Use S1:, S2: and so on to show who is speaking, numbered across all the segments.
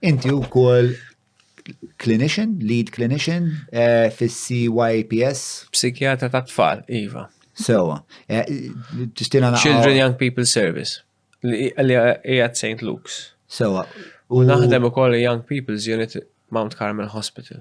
S1: Inti wkoll clinician, lead clinician eh, fis-CYPS? Psikjatra
S2: ta' tfal, iva. Sewa. Eh,
S1: tistina naqra. Children Young
S2: People Service, li hija St. Luke's. Sewa. U
S1: naħdem
S2: ukoll Young People's Unit Mount Carmel Hospital.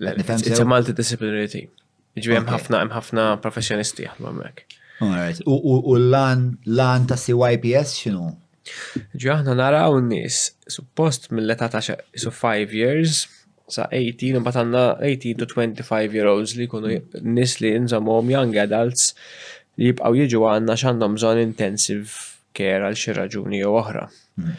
S2: It's a multidisciplinary team. Ġviri hemm ħafna hemm ħafna professjonisti jaħdmu hemmhekk. Alright.
S1: U l-lan ta' CYPS x'inhu? Ġi aħna
S2: naraw n-nies suppost mill-età ta' so 5 years sa 18 imbagħad għandna 18 to 25 year olds li jkunu nies li nżammhom young adults li jibqgħu jiġu għandna x'għandhom bżonn intensive care għal xi raġuni jew oħra. Hmm.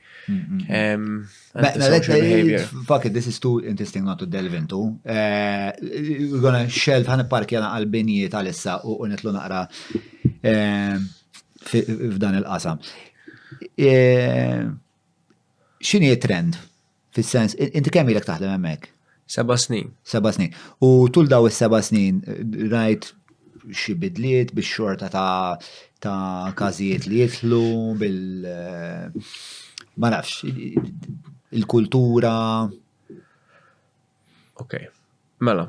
S2: Um, Fuck it, this is too
S1: interesting not to delve into. Uh, we're gonna shelf ħan parki għana għal-binijiet għal-issa u unitlu naqra eh, f'dan il-qasam. Eh, xini trend? Fis-sens, inti kemm ilek taħdem hemmhekk? Seba' snin.
S2: Seba' snin. U
S1: tul daw is-seba' snin rajt xi bidliet biex xorta ta' ta' każijiet li jidħlu bil ma nafx il-kultura.
S2: Ok, mela.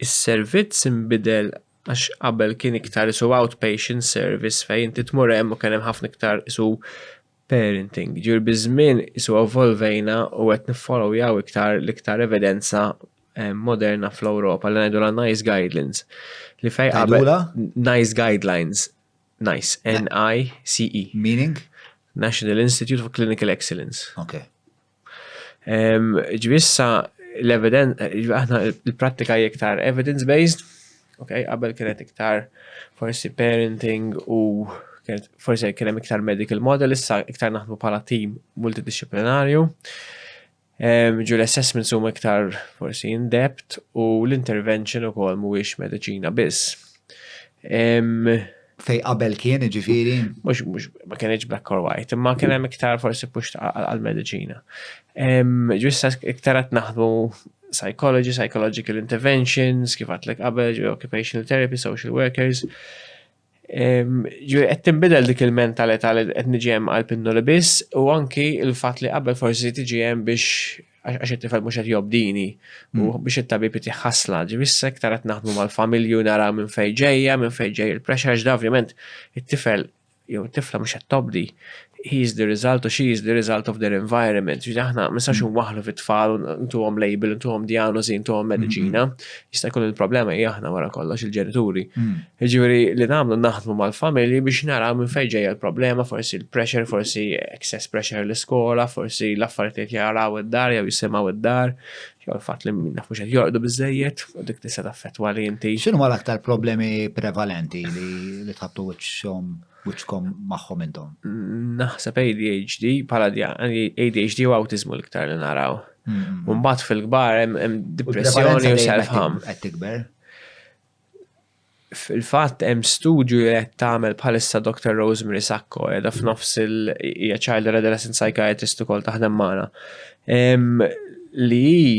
S2: Is-servizz imbidel għax qabel kien iktar isu outpatient service fejn inti tmur hemm u kien hemm ħafna iktar isu parenting. Ġifieri biż-żmien isu evolvejna u qed niffollowjaw iktar l-iktar evidenza eh, moderna fl-Ewropa li ngħidulha nice guidelines li fejn qabel nice guidelines nice N I C E meaning
S1: National
S2: Institute for Clinical Excellence. Okay. Ġvissa l-eviden, aħna l-prattika iktar evidence-based, ok, qabel kienet iktar forsi parenting u forsi kienem iktar medical model, issa iktar naħdmu pala team multidisciplinarju. Ġu l-assessments huma iktar forsi in-depth u l-intervention ukoll mhuwiex mediċina biss.
S1: Fej qabel kien, ġifiri? Mux, mux, ma
S2: kienieġ black or white, imma kien hemm iktar forsi pux għal-medicina. Ġwissa iktar għat naħdmu psychology, psychological interventions, kif għatlek qabel, ġwi occupational therapy, social workers. Ġwi għed timbidel dik il-mentalità li għed nġem għal-pinnu li bis, u anki il-fat li qabel forsi tġem biex għax it-tifel mhux qed jobdini u hmm. biex it-tabib jtih ħasla. Ġifieri issa iktar qed naħdmu mal-familju nara minn fejn ġejja, minn fejn ġej il-pressure ġda ovvjament it-tifel jew tifla mhux qed tobdi. He is the result or she is the result of their environment. Ġifieri aħna ma nistax hmm. waħlu fit-tfal ntuhom label, ntuhom diagnosi, ntuhom mediċina. Hmm. Jista' jkun il-problema hija aħna wara kollox il-ġenituri. Jiġifieri li nagħmlu naħdmu mal-familji biex naraw minn fejn ġejja l-problema, forsi l-pressure, forsi excess pressure l-iskola, forsi l-affarijiet li qed jaraw id-dar jew jisimgħu d-dar, jew il-fatt li mhux qed jorqdu biżżejjed, u dik tista' taffettwa li inti. X'inhuma l-aktar problemi
S1: prevalenti li tħabbtu wiċċhom wiċċkom magħhom intom? Naħseb
S2: ADHD, bħala ADHD u awtiżmu l-iktar li naraw. Mbagħad fil-kbar hemm depressjoni u self-harm. Qed tikber? Fil-fatt hemm studju li qed tagħmel bħalissa Doctor Rosemary Sacco qiegħda f'nofs il hija child and adolescent psychiatrist ukoll taħdem magħna li hi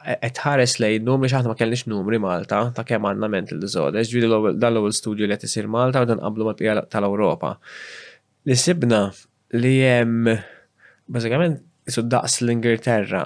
S2: qed tħares lejn numri għax aħna ma kellniex numri Malta ta' kemm għandna mental disorders, jiġifieri dan l-ewwel studju li qed isir Malta meta nqabblu mal-bqija tal-Ewropa. Li sibna li hemm bażikament qisu daqs l-Ingilterra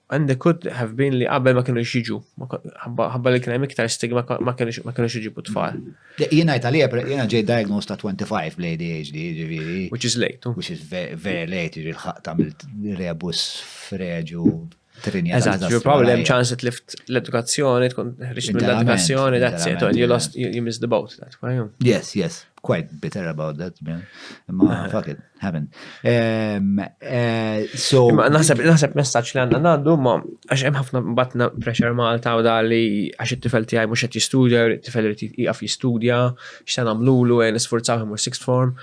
S2: And there could have been li qabel ma kienu jiġu, ħabba li kien hemm iktar stigma ma kienu jiġibu tfal. Jiena jgħid għalija,
S1: jiena ġej diagnosed ta' 25 bl-ADHD, ġifieri. Which is late. Oh. Which is
S2: very
S1: late, ġifieri l-ħaq tagħmilt rebus freġu trinja. Eżatt, ġifieri probably hemm
S2: ċans li lift l-edukazzjoni, tkun ħriġt mill-edukazzjoni, that's it, you lost, you missed the boat, that's why. Yes, yes, quite
S1: bitter about that, man. Ma, fuck it. Heaven. Ehm, eh, so. Ma naħseb, naħseb messaċ
S2: li għanna għandu, ma għax hemm ħafna batna pressure Malta u dali għax it-tifel tiegħi mhux qed jistudja, it-tifel irid jieqaf jistudja, x'se nagħmlulu għen isfurzaw imur sixth form.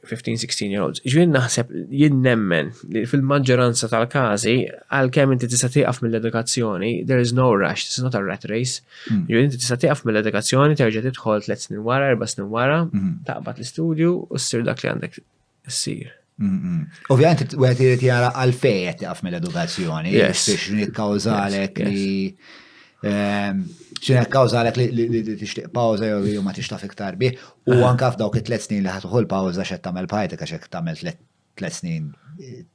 S2: 15-16 year olds. Ġvien naħseb jien nemmen li fil-maġġoranza tal-każi għalkemm inti tista' tieqaf mill-edukazzjoni, there is no rush, this is not a rat race. Mm. Jew inti tista' tieqaf mill-edukazzjoni terġa' tidħol tliet snin wara, erba' snin wara, mm-hmm. taqbad l-istudju u ssir dak li għandek ssir. Mm-hmm. Ovvijament,
S1: u għet irrit jara għalfej għet jaf mill-edukazzjoni, biex nikkawżalek li. Ehm, Xina kawżalek li tixtieq pawza jew ma tixtaf iktar bih, u anka f'dawk it-tlet snin li ħatuħu l-pawza xed tagħmel bħajtek għax hekk tagħmel tlet snin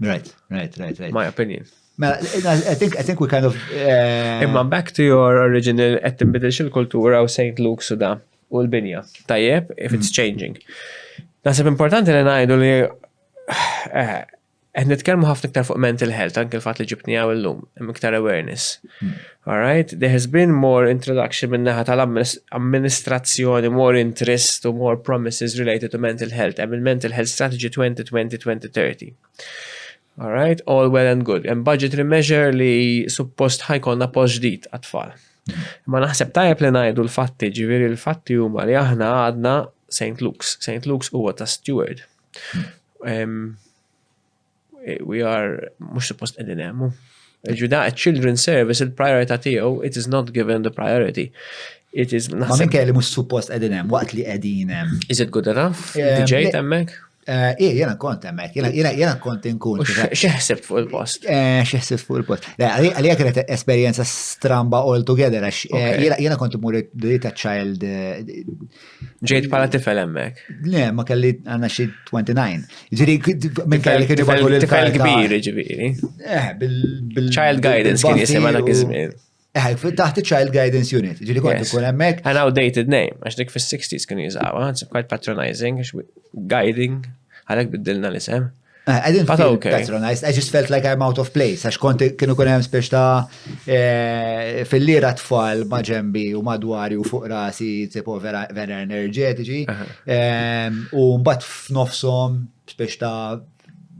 S1: Right, right, right, right. My
S2: opinion. Mela, I think,
S1: I think we kind of... Uh... Imma back
S2: to your original, qed tinbidilx il-kultura u St. Luke suda u l-binja. Tajjeb, if it's mm. changing. Nasib importanti li ngħidu li eh, qed nitkellmu ħafna iktar fuq mental health, anke l-fatt li ġibni għaw illum, hemm iktar awareness. Mm. All right, there has been more introduction min-naħa tal-amministrazzjoni, more interest u more promises related to mental health, hemm il-Mental Health Strategy 2020-2030. All right, all well and good. Hemm budgetary measure li suppost ħajkonna post ġdid għat-tfal. Ma naħseb tajjeb li ngħidu l-fatti, ġifieri l-fatti huma li aħna għadna St. Luke's. St. Luke's huwa ta' steward. We are, mux suppost edin emmu. Il-ġuda, children service, il-priorita tiegħu, it is not given the priority. It is not. Ma minn kelli mux suppost
S1: edin hemm, waqt li edin hemm. Is it good enough?
S2: Eh, DJ temmek? Eh, Ej, jena kont
S1: emmek, jena kont inkun. Xeħsib fuq il-post.
S2: Eh, Xeħsib fuq il-post.
S1: Għalija kienet esperienza stramba all together, jena kont imur dita child
S2: Ġejt pala tifel emmek. Le, ma kelli
S1: għanna xie 29. Ġiri, minn kelli kien jibgħu l Tifel kbir,
S2: ġiri. Eh, bil. Child guidance kien jisima dak iż-żmien. Eh, taħt
S1: child guidance unit, ġiri kont ikun emmek. An outdated name,
S2: għax dik fis-60s kien jizawa, it's quite patronizing, guiding, għalek biddilna l-isem. Eh, I didn't feel okay.
S1: patronized, I just felt like I'm out of place, għax kont kienu kun hemm spiex ta' eh, fil-lira tfal ma' ġembi u madwari u fuq rasi tipo vera enerġetiċi, ehm, u mbagħad f'nofshom spiex ta'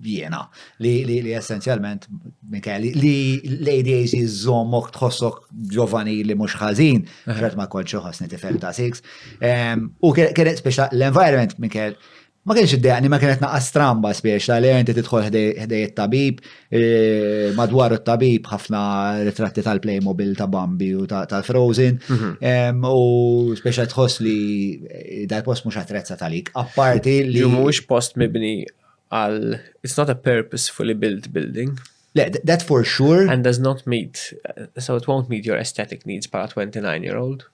S1: jiena li li li essenzjalment Mikel li l-ADAC żommok tħossok ġovani li mhux ħażin, ġrat ma kontx ħossni tifel ta' six. Ehm, u kienet spiex l-environment Mikel Ma kienx iddejaqni, ma kienet naqas stramba spiex la lejn tidħol ħdej it-tabib, e, madwar it-tabib ħafna ritratti tal-Playmobil ta' Bambi u tal-Frozen, mhm. u spiex tħoss li e, dal-post mhux attrezza talik. Apparti li.
S2: Mhux post mibni għal it's not a purposefully
S1: built
S2: building. Le,
S1: that for sure. And does not meet, so it
S2: won't meet your aesthetic needs para 29 year old.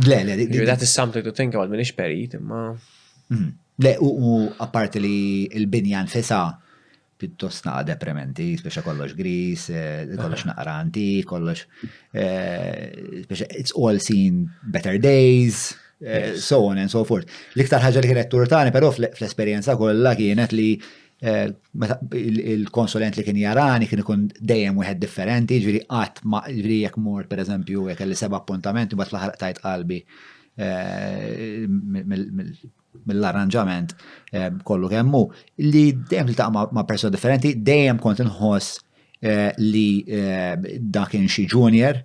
S2: Le, le, le. That is something to think about, minix perit, imma. Mhm. Le, u
S1: apparti li il-binja nfisa pittos naqa deprementi, speċa kollox gris, eh, kollox naqra anti, kollox, eh, speċa it's all seen better days, eh, so on and so forth. L-iktar ħagġa li kienet turtani, pero fl-esperienza kollha kienet li Eh, il-konsulent li kien jarani kien ikun dejjem wieħed differenti, ġviri qatt ma ġviri jekk mort pereżempju jekk kelli seba' appuntament imbagħad fl-aħħar tajt qalbi eh, mill-arranġament eh, kollu kemmu li dejjem li ma' persuna differenti dejjem kont inħoss li dak in xi junior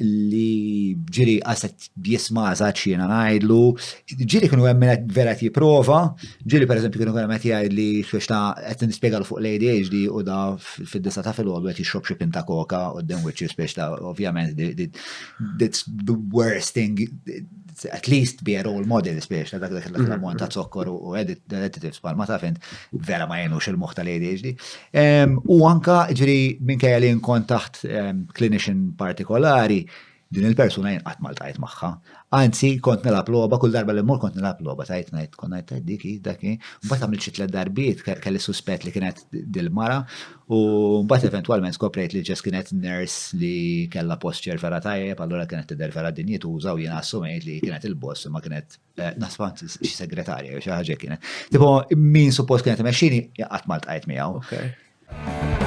S1: li ġiri għaset jisma għazat xina najdlu, ġiri kienu għemminet vera ti prova, ġiri per eżempju kienu għemminet jgħid li xiex ta' għet nispiegalu fuq l-ADHD u da fil-disa ta' fil-għodu għet jixrob xie pinta koka u d-dem wicċi spiex ta' ovvjament that's the worst thing at least be a role model spiex, dak dak dak l-ammont ta' zokkor u additives bħal ma taf int, vera ma jenux il-moħ tal-ADHD. U anka ġri minn kajja li nkun taħt clinician partikolari, din il-persuna jenqat mal tajt maħħa. Anzi, kont nilab loba, kull darba li mur kont nilab loba, tajt najt, kont najt diki, daki, bat għamil xi tlet darbiet, kelli suspett li kienet dil-mara, U mbagħad eventwalment skoprejt li Jess kienet nurse li kellha posture vera tajjeb, allura kienet tidher vera dinjituża u jiena assumejt li kienet il-boss imma kienet eh, nasfa xi segretarja jew xi ħaġa kienet. Tipo min suppost kienet imexxini qatt ma ltqajt miegħu.